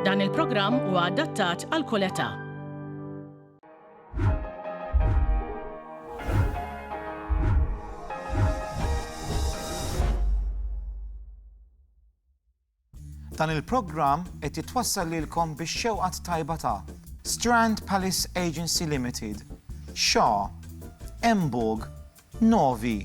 Dan il-programm huwa adattat għal kull età. Dan il-programm qed jitwassal lilkom bix-xewqat tajba ta' Strand Palace Agency Limited, Shaw, Emburg, Novi,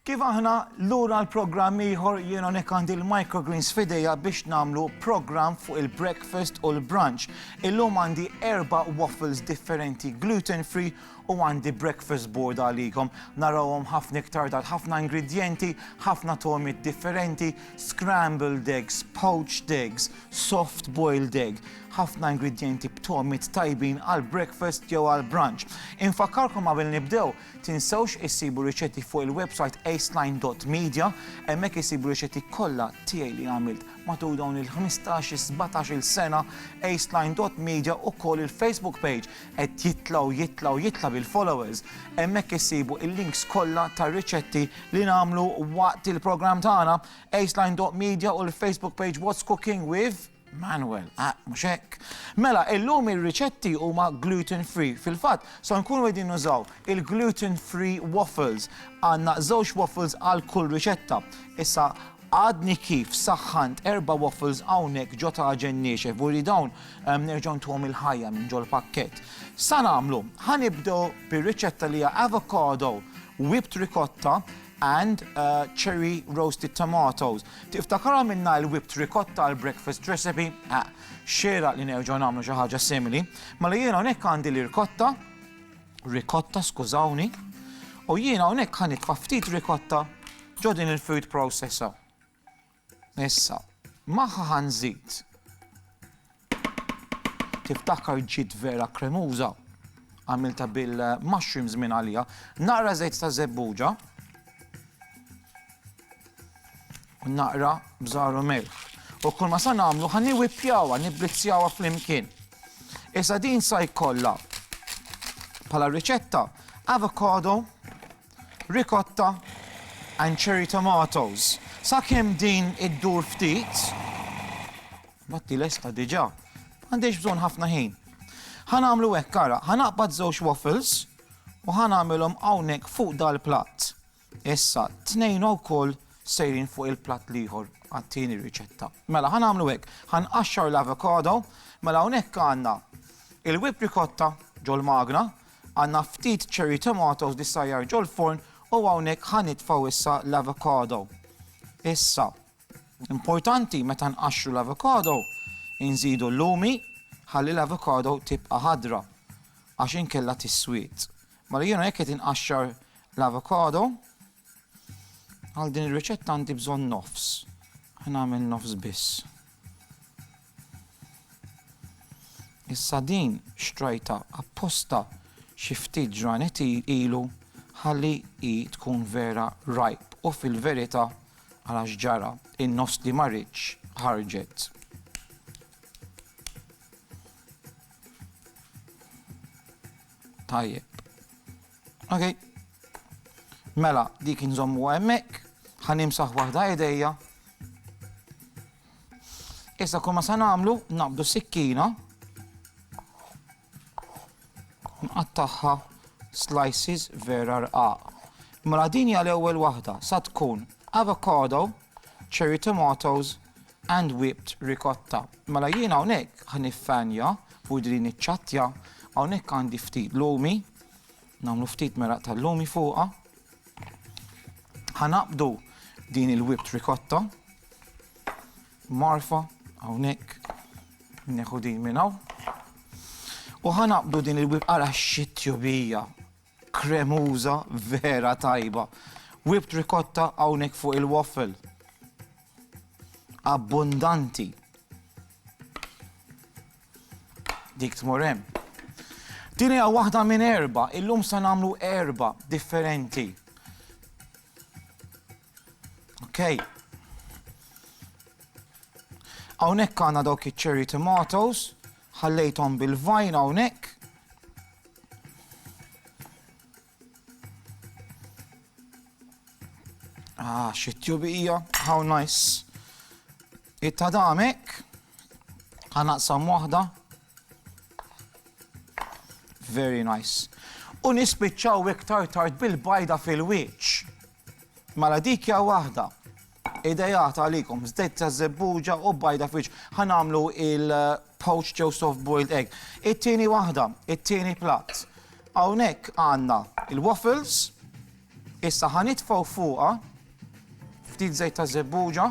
Kif aħna lura għal programm ieħor jien hawnhekk għandi l-microgreens f'idejja biex nagħmlu programm fuq il-breakfast u l-brunch. Illum għandi erba' waffles differenti gluten free u għandi breakfast board għalikom. Narawhom ħafna iktar dal ħafna ingredjenti, ħafna tomiet differenti, scrambled eggs, poached eggs, soft boiled egg, ħafna ingredjenti b'tomiet tajbin għal breakfast jew għal brunch. Infakkarkom qabel nibdew Tinsewx issibu riċetti fuq il-websajt aceline dot media, hemmhekk issibu riċetti kollha tiegħi li għamilt matul dawn il-ħmistax il sbatax il sena, aceline dot media ukoll il-Facebook page qed jitla' u jitla' u jitla' bil-followers, hemmhekk issibu il-links kollha tar-riċetti li nagħmlu waqt il-programm tagħna, aceline dot media u l-Facebook page What's Cooking with. Manuel, ah, mhux hekk. Mela, illum ir-riċetti huma gluten free. Fil-fatt, so nkunu qegħdin nużaw il-gluten free waffles. Għandna żewġ waffles għal kull riċetta. Issa għadni kif saħħant erba waffles hawnhekk ġo ta' ġenniexe, vuri dawn ehm, nerġgħu ntuhom il-ħajja minn ġol pakket. Sa nagħmlu, ħanibdew bir-riċetta li hija avocado whipped ricotta and cherry roasted tomatoes. Tiftakarha minnha il-whipped ricotta għall-breakfast recipe? Ah, xieraq li nerġgħu nagħmlu xi ħaġa simili. Mela jiena hawnhekk għandi l-irkotta, ricotta skużawni, u jiena hawnhekk ħanitfa' ftit ricotta ġo din il-food processor. Issa, magħha ħa nżid. Tiftakar ġiet vera kremuża? Għamiltha bil-mushrooms minn għalija. Naqra żejt ta' żebbuġa. U naqra bżaru melħ. U kull ma sa nagħmlu ħa niwippjawha, nibbizzjawha flimkien. Issa din sa jkollha bħala riċetta avocado ricotta and cherry tomatoes. Sakemm din iddur ftit, batti lesta diġà, m'għandhiex bżonn ħafna ħin. Ħa nagħmlu hekk ara, ħa naqbad żewġ waffles u ħa nagħmilhom hawnhekk fuq dal-platt. Issa, tnejn wkoll sejrin fuq il-platt l-ieħor għat-tieni riċetta. Mela, ħa nagħmlu hekk, ħa nqaxxar l-avocado, mela hawnhekk għandna il-whip ricotta ġol-magna, Għandna ftit cherry tomatoes li ssajjar ġol-forn u hawnhekk ħa nitfgħu issa l-avocado. Issa, importanti meta nqaxxru l-avocado, inżidu l-lumi ħalli l-avocado tibqa' ħadra għax inkella tiswied. Mela jiena jekk qed inqaxxar l-avocado, għal din ir-riċetta għandi bżonn nofs. Ħa nagħmel nofs biss. Issa din xtrajtha apposta xi ftit ġranet ilu ħalli hi tkun vera ripe u fil-verità ara x'ġara, in-nofs li ma ridtx ħarġet. Tajjeb. Ok. Mela, dik inżommuha hemmhekk, ħa nimsaħ waħda idejja. Issa kull ma se nagħmlu naqbdu sikkina nqattagħha slices vera rqaq. Mela din hija l-ewwel waħda sa tkun avocado, cherry tomatoes and whipped ricotta. Mela jien hawnhekk ħniffanja fuq din iċ-ċatja hawnhekk għandi ftit lumi, nagħmlu ftit meraq tal-lumi fuqha. Ħanaqbdu din il-whipped ricotta Marfa, hawnhekk, neħu din minn hawn. U ħanaqbdu din il-wib ara xittjubija kremuża vera tajba. Wib trikotta hawnhekk fuq il-waffle. Abbundanti. Dik tmur hemm. Din hija waħda minn erba, illum se nagħmlu erba differenti. Okay. Hawnhekk għandna dawk iċ-cherry tomatoes, ħallejthom bil-vajn hawnhekk. Ah, xi tjubija, how nice. It-tadamek, ħanaqsam waħda. Very nice. U nispiċċaw iktar tard bil-bajda fil-wiċċ. Mela dik hija waħda. Idejat għalikom, żdejt ta' żebbuġa u bajda fiċ. Ħa nagħmlu il-poached jew soft boiled egg. It-tieni waħda, it-tieni platt. Hawnhekk għandna il-waffles, issa ħa nitfgħu fuqha ftit żejt ta' żebbuġa.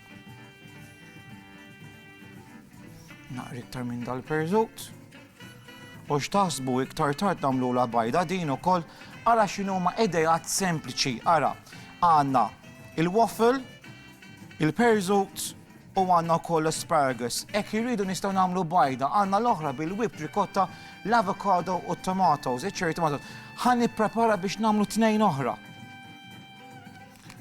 Naqri iktar minn dal-perżut. U x'taħsbu iktar tard nagħmlula bajda din ukoll ara x'inhuma idejat sempliċi ara għandna il-waffle, il-perżut u għandna wkoll l-asparagus. Hekk irridu nistgħu nagħmlu bajda għandna l-oħra bil-whipped ricotta, l-avocado u t-tomatoes, iċ-cherry tomatoes. Ħa nipprepara biex nagħmlu tnejn oħra.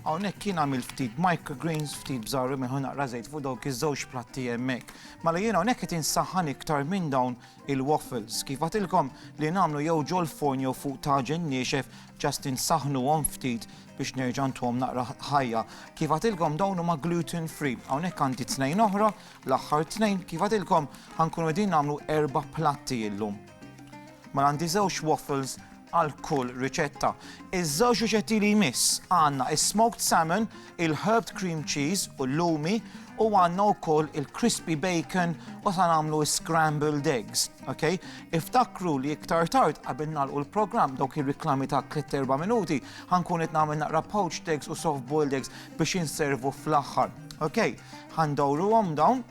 Hawnhekk jien għamilt ftit microgreens, ftit bżarri minn hu naqra żejt fuq dawk iż-żewġ platti hemmhekk. Mela jien hawnhekk qed insaħħan iktar minn dawn il-waffles. Kif għadtilkom li nagħmlu jew ġol-forn jew fuq taġen niexef just insaħħnuhom ftit biex nerġa' ntuhom naqra ħajja. Kif għadtilkom dawn huma gluten free. Hawnhekk għandi tnejn oħra, l-aħħar tnejn. Kif għadtilkom ħa nkunu qegħdin nagħmlu erba' platti illum. Mela għandi żewġ waffles, għal kull riċetta. Iż-żewġ riċetti li jmiss għandna is-smoked salmon, il-herbed cream cheese u l-lumi u għandna wkoll il-crispy bacon u sa nagħmlu scrambled eggs. Okay? Iftakru li iktar tard qabel nagħlqu l-programm dawk ir-riklami ta' 3-4 minuti ħankun qed nagħmel naqra poached eggs u soft boiled eggs biex inservu fl-aħħar. Okay? Ħandawruhom dawn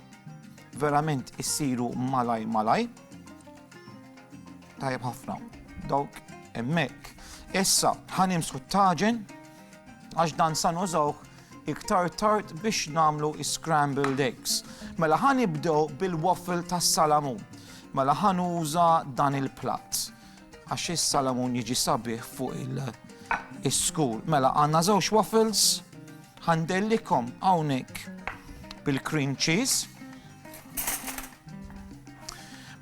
verament issiru malaj malaj. Tajjeb ħafna. Dawk emmek. Issa, ħanimsħu t-taġen, għax dan san użawk iktar tard biex namlu scrambled eggs. Mela ħan ibdew bil-waffle tas salamun. Mela ħan uża dan il-platt. Għax is-salamun jiġi sabiħ fuq il-skur. Mela għanna żewġ waffles, ħandellikom hawnhekk bil-cream cheese.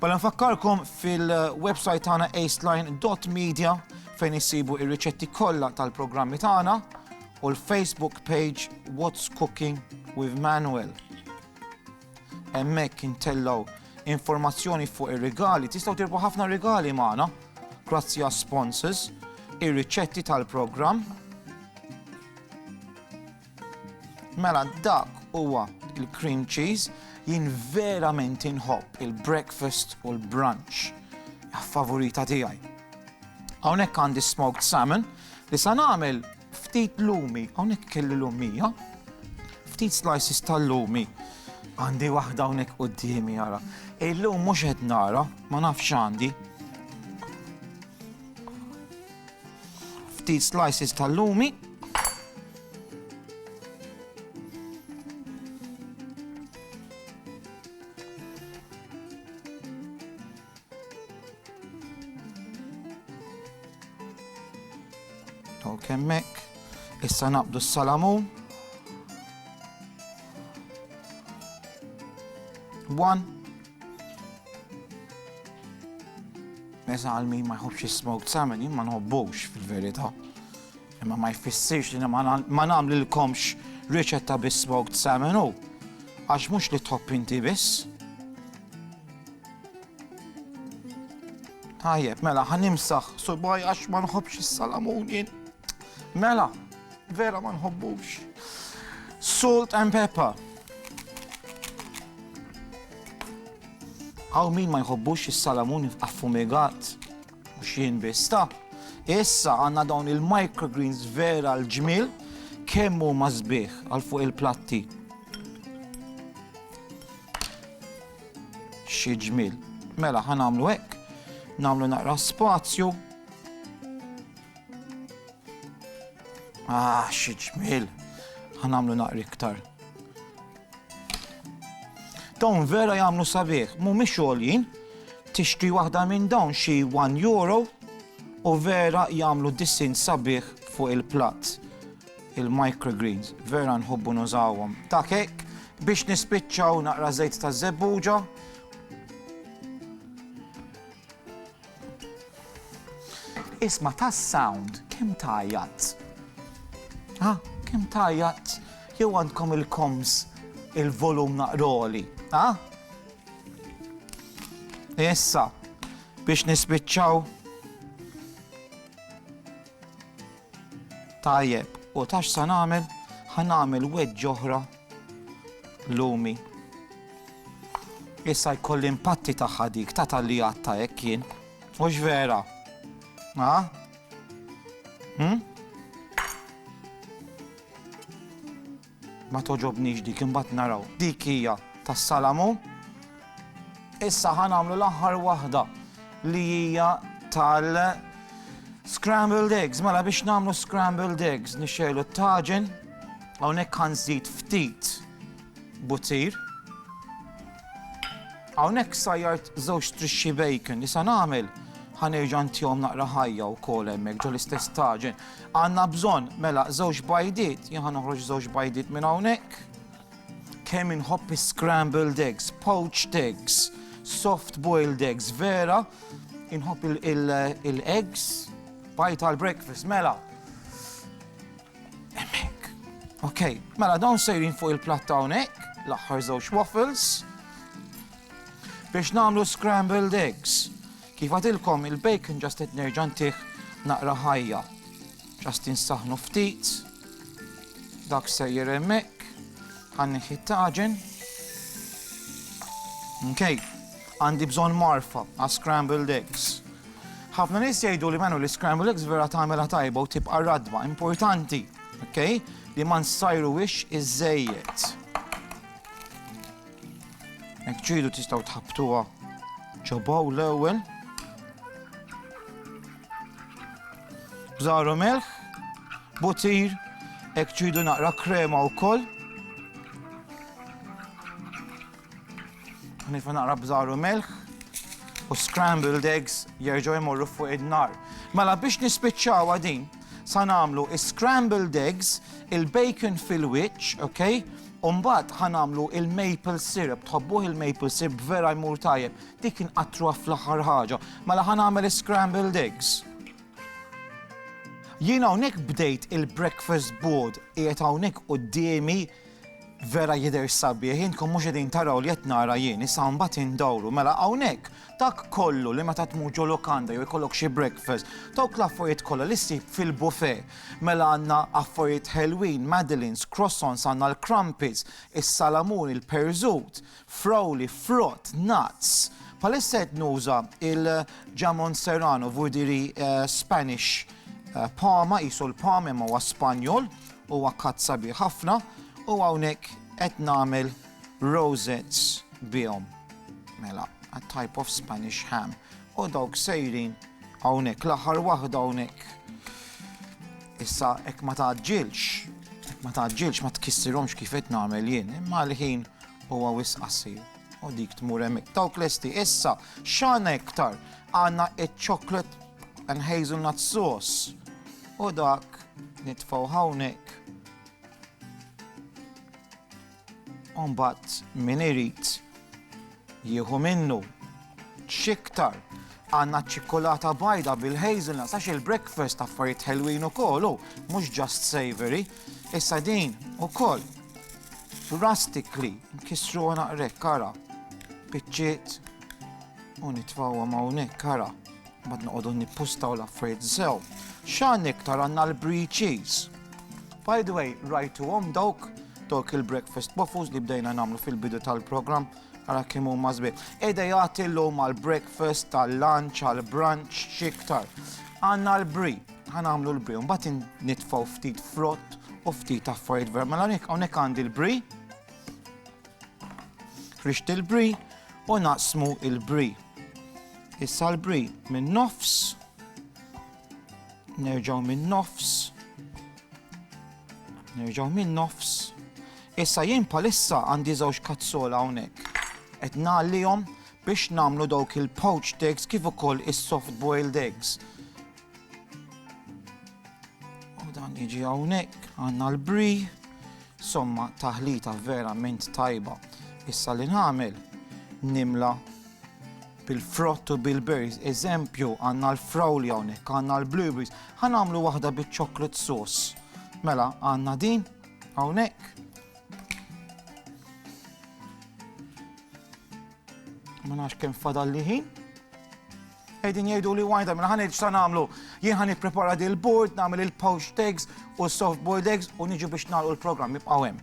Bala nfakkarkom fil-website tagħna aceline.media fejn issibu ir-riċetti kollha tal-programmi tagħna u l-Facebook page What's Cooking with Manuel. Hemmhekk intellgħu informazzjoni fuq ir-rigali, tistgħu tirbu ħafna rigali magħna grazzi għas sponsors, ir-riċetti tal-programm, Mela dak huwa il-cream cheese, jien verament inħobb il-breakfast u l-brunch. Favorita tiegħi. Hawnhekk għandi smoked salmon li sa nagħmel ftit lumi, hawnhekk kelli lumija, ftit slices tal-lumi għandi waħda hawnhekk qudiemi jara. Illum mhux qed nara, ma nafx għandi. Ftit slices tal-lumi. kemmek. Issa naqbdu s-salamun. One. Mesa għal min ma jħobbx is-smoked salmon, jien ma nħobbux fil-verità. Imma ma jfissirx li ma nagħmlilkomx riċetta bis-smoked salmon u għax mhux li tħobb inti biss. Tajjeb, mela ħanimsaħ subaj għax ma nħobbx is-salamun jien. Mela, vera ma nħobbux. Salt and pepper. Hawn min ma jħobbux is-salamun affumigat? Mhux jien biss ta! Issa għandna dawn il-microgreens vera l-ġmiel kemm huma sbieħ għal fuq il-platti. Xi ġmiel. Mela ħa nagħmlu hekk, nagħmlu naqra spazju. Ah, xi ġmiel. Ħa nagħmlu naqra iktar. Dawn vera jagħmlu sabiħ, mhumiex għoljin, tixtri waħda minn dawn xi 1 euro u vera jagħmlu dissin sabiħ fuq il-platt. Il-microgreens, vera nħobbu nużawhom. Ta' kek, biex nispiċċaw naqra żejt ta' żebbuġa. Isma' tas-sound kemm tgħajjat. Ha, kemm tgħajjat jew għandkom il-koms il-volum naqra għoli, ha? Issa, biex nispiċċaw. Tajjeb, u tax sa nagħmel, ħa nagħmel weġġ oħra Lumi. Issa jkolli impatti tagħha dik, ta' talli għatta hekk jien. Mhux vera? Ha? Hm? Ma toġobnix dik imbagħad naraw. Dik hija tas-salamu. Issa ħa nagħmlu l-aħħar waħda li hija tal scrambled eggs. Mela biex nagħmlu scrambled eggs nixxejlu t-taġen hawnhekk ħanżid ftit butir. Hawnhekk sajjart żewġ trixxi bacon li sa nagħmel ħanerġa' ntihom naqra ħajja wkoll hemmhekk ġol istess taġen. Għandna bżonn mela żewġ bajdiet, jien ħa noħroġ żewġ bajdiet minn hawnhekk. Kemm inħobb is-scrambled eggs, poached eggs, soft boiled eggs, vera, inħobb il-eggs, bajt għal breakfast, mela. Emmek. Ok, mela dawn sejrin fuq il-platt hawnhekk, l-aħħar żewġ waffles, biex nagħmlu scrambled eggs. Kif għadilkom il-bacon ġast qed nerġa' ntih naqra ħajja. Ġast insaħħnu ftit. Dak sejjer hemmhekk. Ħa nieħi t-taġen. Mkej, għandi bżonn marfa għas scrambled eggs. Ħafna nies jgħidu li menu li scrambled eggs vera tagħmilha tajba u tibqa' radba importanti, okay? li ma nsajru wix iż-żejjed. Hekk ġidu tistgħu tħabbtuha ġobaw l-ewwel. Bżaru melħ, butir, hekk ġidu naqra krema wkoll. Nifa naqra bżaru melħ u scrambled eggs jerġgħu jmorru fuq id-nar. Mela biex nispiċċawha din, sa nagħmlu scrambled eggs, il-bacon fil-wiċċ, okay? U mbagħad ħa nagħmlu l-maple syrup. Tħobbuh il-maple syrup? Vera jmur tajjeb. Dik inqattruha fl-aħħar ħaġa. Mela ħa nagħmel is-scrambled eggs. Jien hawnhekk bdejt il-breakfast board qiegħed hawnhekk quddiemi vera jidher sabiħ, intkom mhux qegħdin taraw li qed nara jien, issa mbagħad indawru. Mela hawnhekk Dak kollu li meta tmur ġo lukanda jew ikollok xi breakfast, dawk l-affarijiet kollha li ssib fil-bufè. Mela għandna affarijiet ħelwin, madeleines, croissants, għandna l-crumpets, is-salamun, il-perżut, frawli, frott, nuts. Bħalissa qed nuża il-jamon serrano, vuol dire Spanish poma, qisu l-pom imma huwa Spanjol, huwa cut sabiħ ħafna u hawnhekk qed nagħmel rosettes bihom. Mela, a type of Spanish ham. U dawk sejrin hawnhekk l-aħħar waħda hawnhekk. Issa hekk ma taġġilx, ma taġġilx ma tkissirhomx kif qed nagħmel jien, imma l-ħin huwa wis qasir. U dik tmur hemmhekk. Dawk lesti issa x'għandna iktar għandna iċ-chocolate and hazelnut sauce. U dak nitfgħu hawnhekk U mbagħad min irid jieħu minnu x'iktar għandna ċ-ċikkulata bajda bil-hazelnuts għax il-breakfast affarijiet ħelwin ukoll u mhux just savory. Issa din ukoll rustically nkissru naqrek kara biċċiet u nitfawhom hawnhekk kara. Mbagħad noqogħdu nippustaw l-affarijiet sew. X'għan iktar għandna l-brie cheese. By the way, rajtuhom dawk dawk il-breakfast waffles li bdejna nagħmlu fil-bidu tal-programm għara kemm huma żbieħ. Ejda jagħti llum għall-breakfast, għall-lunch, għall-brunch, xiktar. Għandna l-bri, ħanamlu l-bri, mbagħad nitfgħu ftit frott u ftit affarijiet vera. Mela hawnhekk għandi l-bri, rixti l-bri u naqsmu l-bri. Issa l-bri minn nofs, nerġaw minn nofs, nerġaw minn nofs. Issa jien palissa għandi żewġ kazzola hawnhekk. Qed nagħlihom biex nagħmlu dawk il-poached eggs kif ukoll is-soft boiled eggs. U dan jiġi hawnhekk għandna l-bri, somma taħlita verament tajba. Issa li nagħmel nimla bil-frott u bil-berries, eżempju, għanna l-frawli hawnhekk, għanna l-blueberries, ħanamlu waħda biċ-chocolate sauce. Mela, għanna din, hawnhekk. Ma nafx kemm fadal li ħin. Qegħdin jgħidu li wajda mela ħaneġ sa nagħmlu. Jien ħan nipprepara dil-board, nagħmel il-pouch eggs u soft boiled eggs u niġu biex nagħlqu l-programm jibqgħu hemm.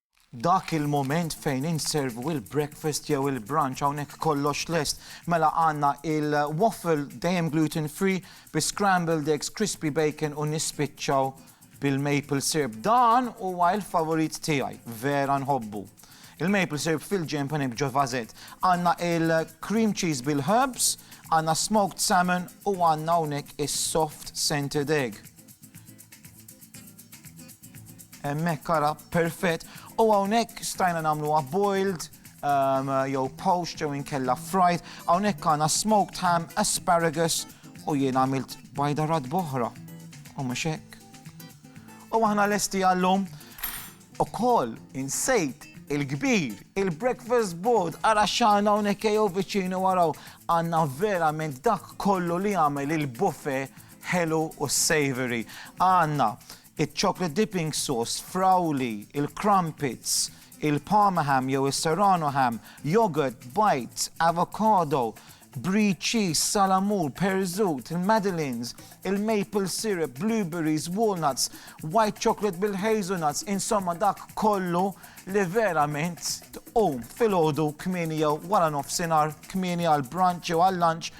Dak il-mument fejn inservu il-breakfast jew il-brunch hawnhekk kollox lest. Mela għandna il-waffle dejjem gluten free bi scrambled eggs, crispy bacon u nispiċċaw bil-maple syrup. Dan huwa il-favorit tiegħi, vera nħobbu. Il-maple syrup fil-ġenb hawnhekk ġo vasett. Għandna il-cream cheese bil-herbs, għandna smoked salmon u għandna hawnhekk is-soft scented egg. Hemmhekk ara perfett u hawnhekk stajna nagħmluha boiled, ehm, jew poached jew inkella fried. Hawnhekk għandna smoked ham, asparagus u jien għamilt bajda rad boħra. U mhux hekk. U aħna lesti għallum ukoll insejt il-kbir, il-breakfast board, ara xana hawnhekk jew viċinu waraw għandna verament dak kollu li għamel il-buffet ħelu u savoury. Għandna iċ-chocolate dipping sauce, frawli, il-crumpets, il-parma ham jew is-serrano ham, yoghurt, bites, avocado, brie cheese, salamur, perżut, il-madeleines, il-maple syrup, blueberries, walnuts, white chocolate bil-hazelnuts, insomma dak kollu li verament tqum filgħodu kmieni jew wara nofsinhar kmieni għall-brunch jew għal-lunch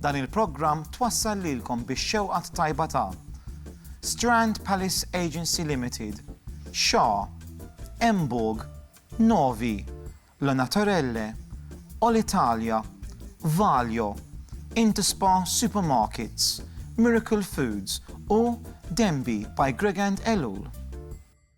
Dan il-programm twassal lilkom bix-xewqa t-tajba ta' Strand Palace Agency Limited, xa, Emborg, Novi, La Naturelle, Olitalia, Valio, Interspa Supermarkets, Miracle Foods u Denby by Gregand Ellul.